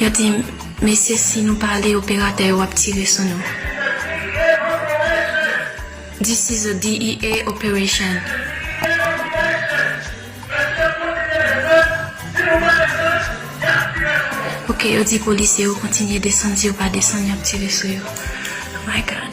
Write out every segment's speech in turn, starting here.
Yo di m, Mesye, si nou pa ale, operatè yo ap tire sou nou. This is a DEA operation. Ok, yo di polisye yo kontinye desann, si yo pa desann, y ap tire sou yo. My God.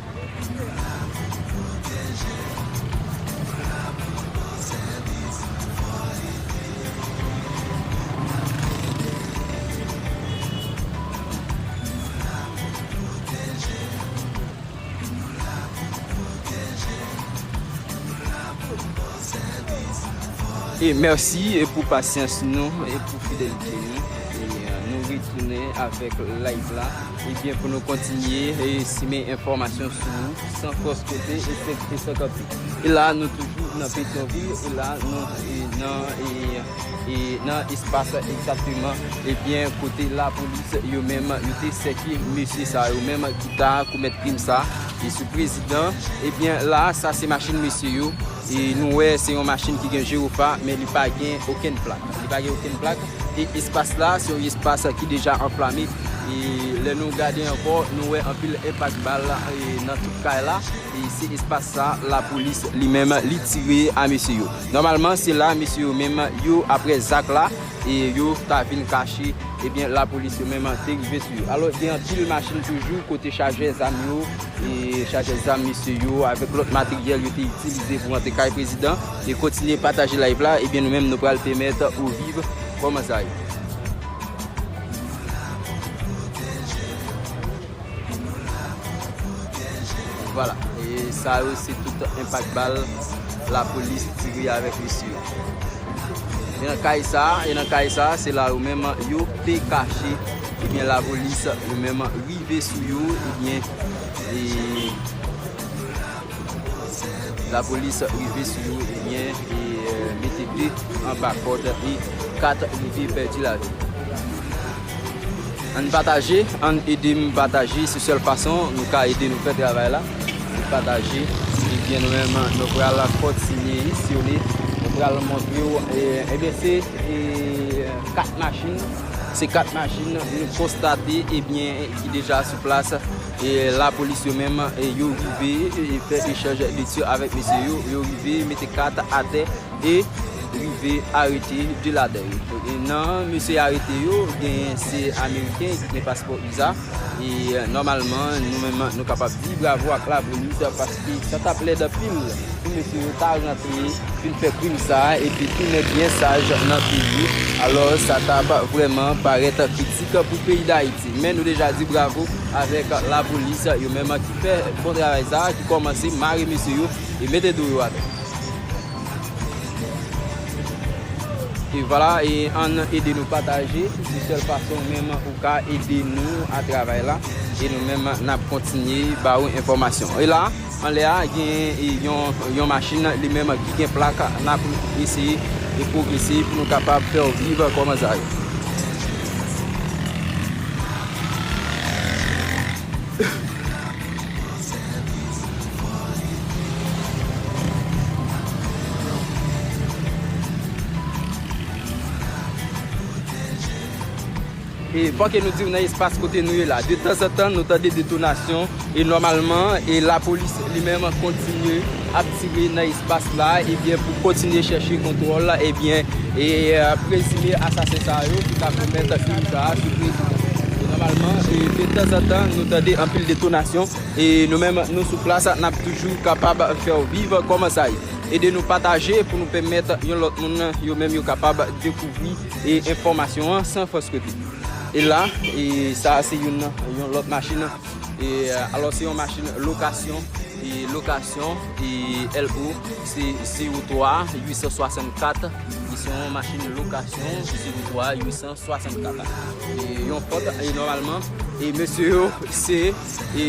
E merci pou pasyans nou e pou fidelite nou. Nou retounen avèk live la. Ebyen pou nou kontinye e simen enfòmasyon sou ou san fòs kote e fek e san kanpe. E la nou toujou nan Petyonvil e la nou nan e e nan espas egzakteman ebyen kote lapolis yo menm yo te sèke mesye sa yo menm ki ta komèt krim sa e sou prezidan ebyen la sa se machin mesye yo e nou wè se yon machin ki gen jewofa men li pa gen okenn plak. Li pa gen okenn plak. E espas la, se yon espas ki deja anflame. E lè nou gade ankò, nou wè anpil enpak bal nan tout kay la. E se espas sa a lapolis li menm li tire a mesye yo. Nòmalman se la mesye yo menm yo aprè zak la e yo ta vin kache. Ebyen lapolis yo menm te rive sou yo. Alò gen anpil machin toujou kote chajè zam yo. e chajè zam mesye yo avèk lòt materyèl yo te itilize pou antre kay prezidan e kontinye pataje live la ebyen nou menm nou pral pèmèt ou viv kòman sa ye. Vwala e sa yo se tout enpak bal lapolis tire avèk mesye yo. E nan kay sa a, e nan kay sa a, se la yo menm yo te kache. Ebyen lapolis yo menm rive sou yo, ebyen e lapolis rive sou yo, ebyen e mete 2 anba kòd e 4 rive pèdi lavi. Ann pataje, ann edem pataje se sèl fason nou ka ede nou fè travay la, se pataje ebyen nou menm nou pral kontinye isyone nou pral montre ou ebyen se 4 machin se 4 machin nou konstate ebyen ki deja sou plas e la polis yo menm yo rive fè echanj de tir avèk mesye yo, yo rive mete 4 atè. e rive arete 2 ladan yo. Nan mesye yo arete yo, genyen se ameriken ki gen paspò usa e nòmalman nou menm nou kapab di bravo ak labonit paske sa tap lèd anpil pou mesye yo ta rantre vin fè krim sa epi tounen byen saj nan peyi alò sa tap vrèman parèt kritik pou peyi dayiti men nou deja di bravo avèk lapolis yo menm ki fè bon travay sa ki kòmanse mare mesye yo e mete do yo atè. E vwala e an nan ede nou pataje se sèl fason menm ou ka ede nou a travay la e nou menm nap kontinye ba ou enfòmasyon. E la anlè a gen yon machin li menm ki gen plak nap eseye e pwogrese pou nou kapab fè ou viv kòman sa yo. E fòk e nou diw nan espas kote nou ye la, de tanzantan nou tande detonasyon, e nòmalman, e lapolis li menm kontinye. ap tire nan espas la ebyen pou kontinye chèche kontwòl ebyen e prezime asasen sa yo ki ta komèt krim sa a sou prezidan e nòmalman e de tanzantan nou tande anpil detonasyon e nou menm nou sou plas n ap toujou kapab fè w viv kòman sa ye ede nou pataje pou nou pèmèt yon lòt moun yo menm yo kapab dekouvri e enfòmasyon an san fòs kote e la e sa a se youn nan yon lòt machin. E alò se yon machin lokasyon e lokasyon e LO se 03 864 e se yon machin lokasyon 03 864 e yon fòt e nòmalman e mesye yo se e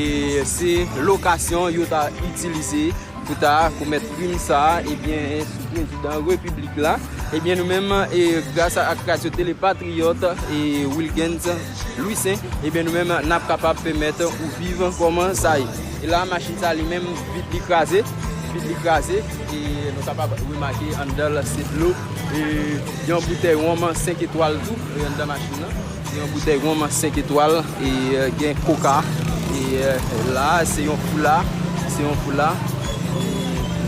se lokasyon yo ta itilize pou ta komèt krim sa ebyen eh sou prezidan repiblik la ebyen eh nou menm e grasa ak radyo tele patriyòt e Wilgens Louissaint ebyen nou menm nap kapab pèmèt ou viv kòman sa ye. E la machin sa li menm vit li kraze, vit li kraze e nou kapab remake anndan l se dlo e yon boutèy wonm 5 etwal tou anndan machin nan, yon boutèy wonm 5 etwal e gen koka e la se yon foula, se yon foula e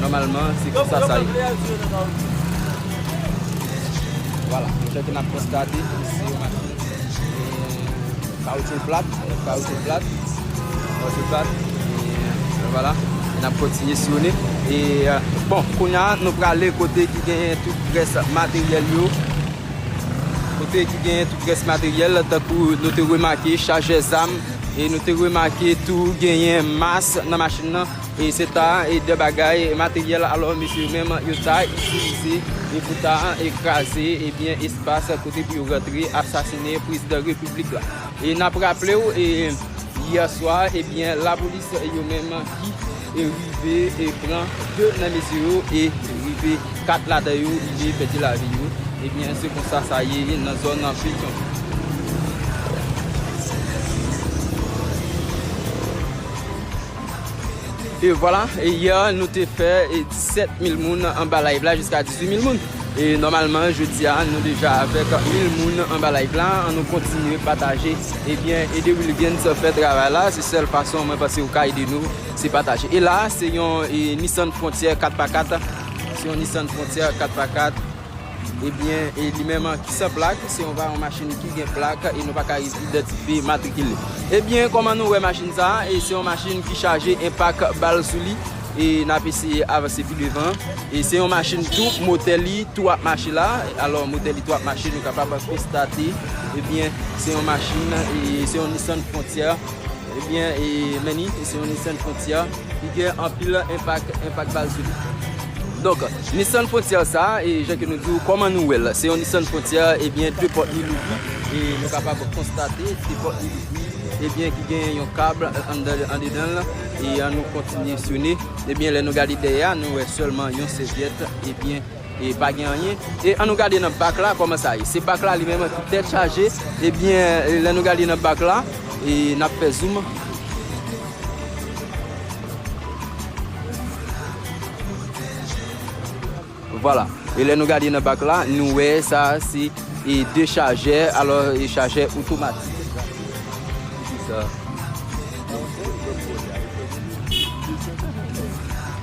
nòmalman se konsa sa ye. Wala, mwen chèke nap konstate se yon machin. Kawoutchou plat, kawoutchou plat, kawoutchou plat, e wala, e nap kontinye siyone, e bon, kounya nou prale kote ki genyen tout res materyèl yo, kote ki genyen tout res materyèl, tankou nou te remake chajè zam, e nou te remake tou genyen mas nan machin nan, e se ta e de bagay materyèl alò mesye menm yo ta itilize, e pou ta ekraze, e byen e. Bas kote pou yo rantre asasine prezidan repiblik la. E nap raplew e yè swa ebyen lapolis yo menm ki e rive e pran 2 nan mesye yo e rive 4 ladan yo rive pèdi lavi yo ebyen se konsa sa ye nan zòn petion. E vwala, e yè nou te fè 17 mil moun anba live la jiska 18 mil moun. E nòmalman jodi a nou deja avèk mil moun anba live la. An nou kontinye pataje. Ebyen ede Wilguens fè travay la. Se sèl fason mwen panse ou ka ede nou se pataje. E la se yon Nissan Frontier 4x4. Se yon Nissan Frontier 4x4. Ebyen e li menm ki san plak se yon varon machin ki gen plak e nou pa ka idantifye matrikil li. Ebyen kòman nou wè machin sa a e se yon machin ki chaje enpak bal sou li e n ap eseye avanse pi devan e se yon machin tou motè li tou ap mache la alò motè li tou ap mache nou kapab konstate ebyen se yon machin e se yon Nissan Frontier. Ebyen e Manny e se yon Nissan Frontier ki gen anpil enpak, enpak bal sou li. Donk Nissan Frontier sa e jan ke nou di ou kòman nou wèl, se yon Nissan Frontier ebyen 2 pòt li louvri e nou kapab konstate 2 pòt li louvri ebyen ki gen yon kab anndan andedanl e an nou kontinye syone ebyen lè nou gade dèyè a nou wè sèlman yon sèvyèt ebyen E pa gen anyen. E annou gade nan bak la kòman sa ye. Se bak la li menm ki tèt chaje. Ebyen lè nou gade nan bak la e n ap fè zoom. Vwala. E lè nou gade nan bak la nou wè sa se e de chajè. Alò e chajè otomatik. Ki sa.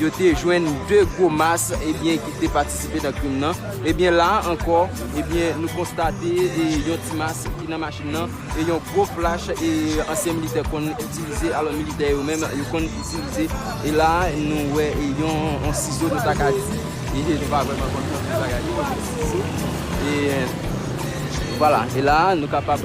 Yo te jwenn 2 gwo mas ebyen ki te patisipe nan krim nan. Ebyen la a ankò ebyen nou konstate yon ti mas ki nan machin nan e yon gwo flach e ansyen militè konn itilize alò militè yo menm yo konn itilize e la a nou wè yon sizo nou ta ka di e nou pa vrèman konn konn ki bagay li men se sizo e vwala e la a nou kapab.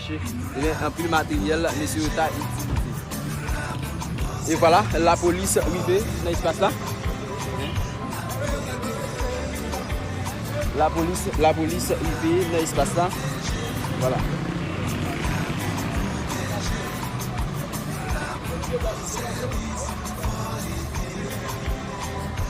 Cheri gen anpil materyèl mesye yo ta itilize. E vwala lapolis rive nan espas la. Lapolis lapolis rive nan espas la. Vwala.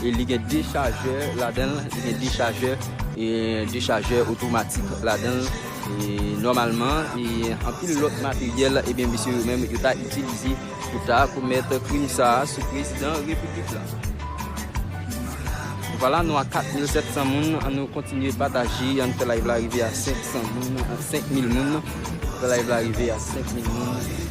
E li gen dechajè ladan l, li gen dechajè, dechajè otomatik ladan l. E nòmalman, e anpil lòt materyèl, ebyen mesye yo menm yo ta itilize pou ta komèt krim sa a sou prezidan repiblik la. Vwala nou a 4700 moun, an nou kontinye pataje, an nou fè live la rive a 500 moun, 5000 moun, fè live la rive a 5000 moun.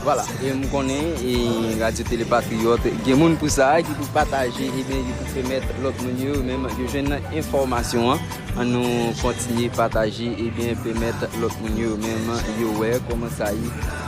Vwala, e m konnen e Radyo Tele Patriyòt gen moun pou sa, ki pou pataje, e ben ki pou pèmèt lòt moun yo menm yo jwenn enfòmasyon an. An nou kontinye pataje, e ben pèmèt lòt moun yo menm yo wè kòman sa ye.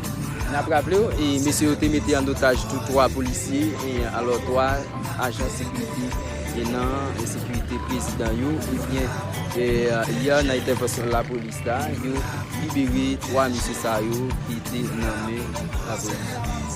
N ap raple w, mesye yo te mete an otaj tou 3 polisye e alò 3 ajan sekirite nan sekirite prezidan yo ebyen yè nan entèvansyon lapolis la yo libere 3 mesye sa yo ki te nan men lapolis.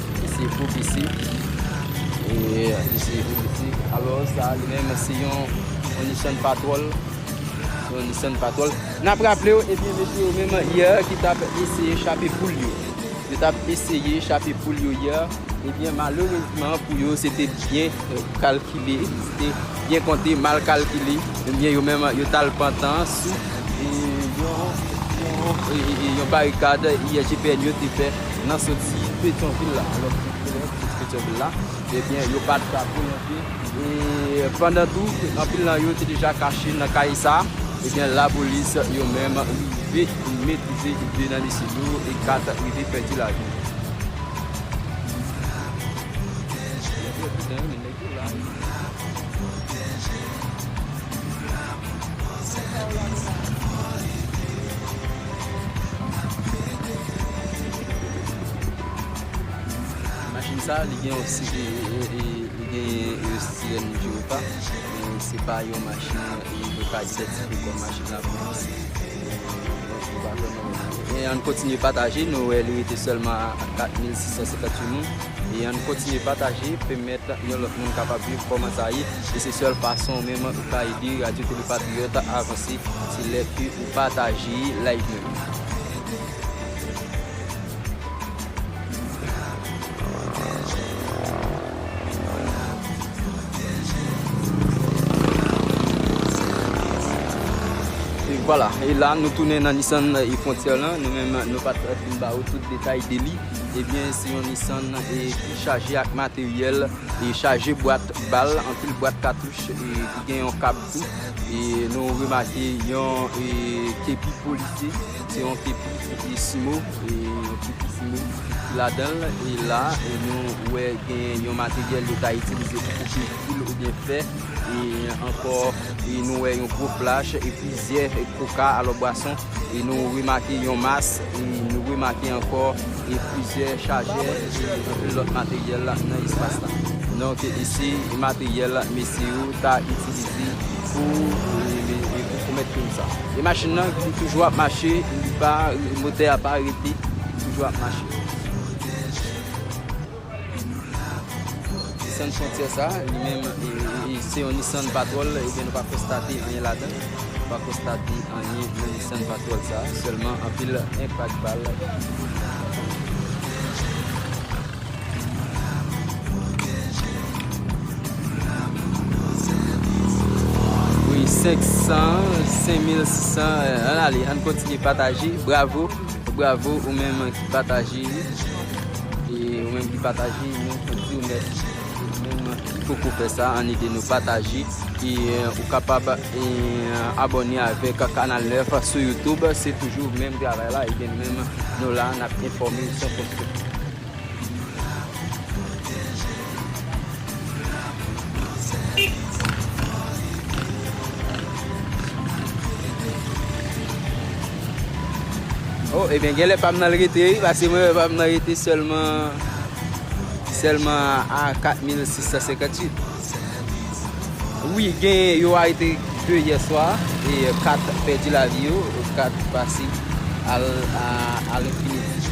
Li se gwo pisi. Yeah, li se gwo pisi. Alò sa li menm se yon Nissan Patrol. Se yon Nissan Patrol. N ap raple w, ebyen mesye yo menm yè ki t ap eseye chape poul yo. Yo t ap eseye chape poul yo yè. Ebyen malerezman pou yo se te byen kalkile, se te byen konte, mal kalkile. Ebyen yo menm yo t al pantan sou yon barikad yè GPN yo te fè. nan soti Petyonvil la, alò ki te twouve yo anpil soti Petyonvil la, ebyen yo pa t ka pwolonje, e pandan tou ke anpil nan yo te deja kache nan kay sa, ebyen lapolis yo menm rive metrize 2 nan mesye yo e 4 rive pèdi lavi yo. Machin sa li gen yon sirèn jiropa men se pa yon machin mwen ka idantifye kòm machin lapolis An n kontinye pataje nou wè li rete sèlman a 4658 moun. E ann kontinye pataje pemet yon lot moun kapab viv koman sa ye e se sel fason ou menm ou ka ede radio tele patriyot avanse se lè ke ou pataje live nou yo. E vwala e la nou tounen nan Nissan e frontier lan nou menm nou pat fin ba ou tout detay de li. Ebyen se yon Nissan e ki chaje ak materyèl e chaje bwat bal, anpil bwat katouch e ki gen yon kab tou e nou remake yon e kepi polisye se yon kepi e simo e yon kepi simo ki ladanl e la e nou wè gen yon materyèl yo ta itilize pou koupe fil oubyen fè e ankò e nou wè yon gwo flach e plizyè koka alò bwason. e nou remake yon mas, e nou remake ankò e plizyè chajè e anpil lòt materyèl nan espas la. Donk e se materyèl mesye yo ta itilize pou e pou komèt krim sa. E machin nan li toujou ap mache, li pa, motè a pa rete, li toujou ap mache. Nissan Frontier sa a, li menm, se yon Nissan Patrol, ebyen nou pa konstate anyen ladan, nou pa konstate anyen nan Nissan Patrol sa a, sèlman anpil enpak bal. Wi 500, 5600, ann ale, ann kontinye pataje, bravo, bravo ou menm ki pataje. E ou menm ki pataje nou tou di ou mèsi. Ou menm ki poko fè sa an ede nou pataje e ou kapab abòne avèk kanal 9 sou YouTube se toujou menm travay la e nou menm nou la nap enfòme san fòs kòt. Oh ebyen gen lè pam nan l rete wi paske mwen wè pam nan rete sèlman sèlman a 4658 Wi gen yo arete 2 yè swa e 4 pèdi lavi yo 4 pase al enfiniti.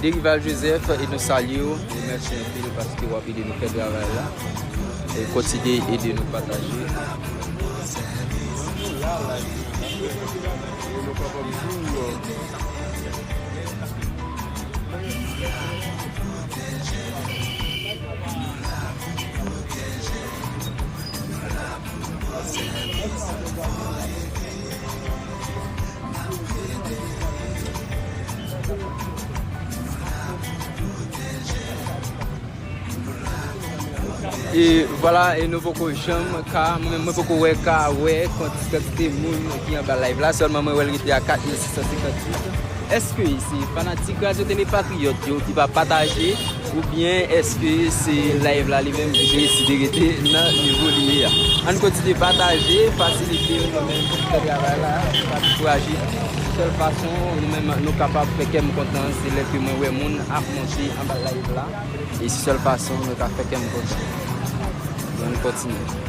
Derival Joseph e nou salye w, nou mèsi anpil paske w ap ede nou fè travay la. E kontinye ede nou pataje. E vwala e nou poko janm ka, mwen mwen poko wè ka wè konti kantite moun ki anba live la, sèlman mwen wè l rete a 4658. Eske se fanatik Radyo Tele Patriyòt yo ki pa pataje? Ou byen eske se live la li menm ki deside rete nan nivo li ye a. Ann kontinye pataje, fasilite nou nou menm ki fè travay la, nou pa dekouraje. Sèl fason nou menm nou kapab fè kè m kontan se lè ke mwen wè moun ap monte anba live la. E se sèl fason mwen ka fè kè m kontan. Ann kontinye.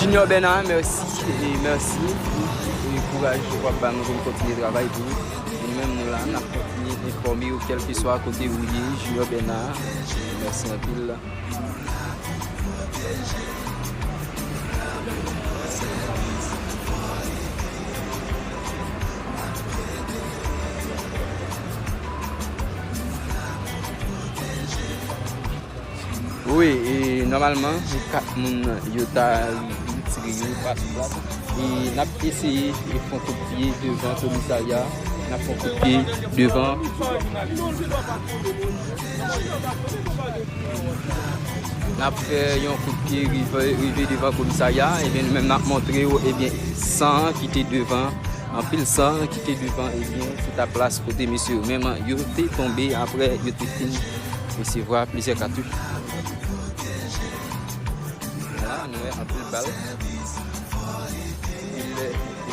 Junior Bernard merci e merci pou kouraj ou ap bannou pou nou kontinye travay pou ou. Nou menm nou la nap kontinye enfòme ou kelkeswa kote ou ye Junior Bernard. Merci anpil. Wi e nòmalman pou 4 moun yo ta retire yo pati la e n ap eseye fon kout pye devan komisarya n ap fon kout pye devan Nap fè yon kout pye rive devan komisarya a ebyen nou menm nap montre yo ebyen san ki te devan anpil san ki te devan ebyen se ta plas kote mesye yo menm yo te tonbe aprè yo te fin resevwa plizyè katouch la nou wè anpil bal anpil efektif.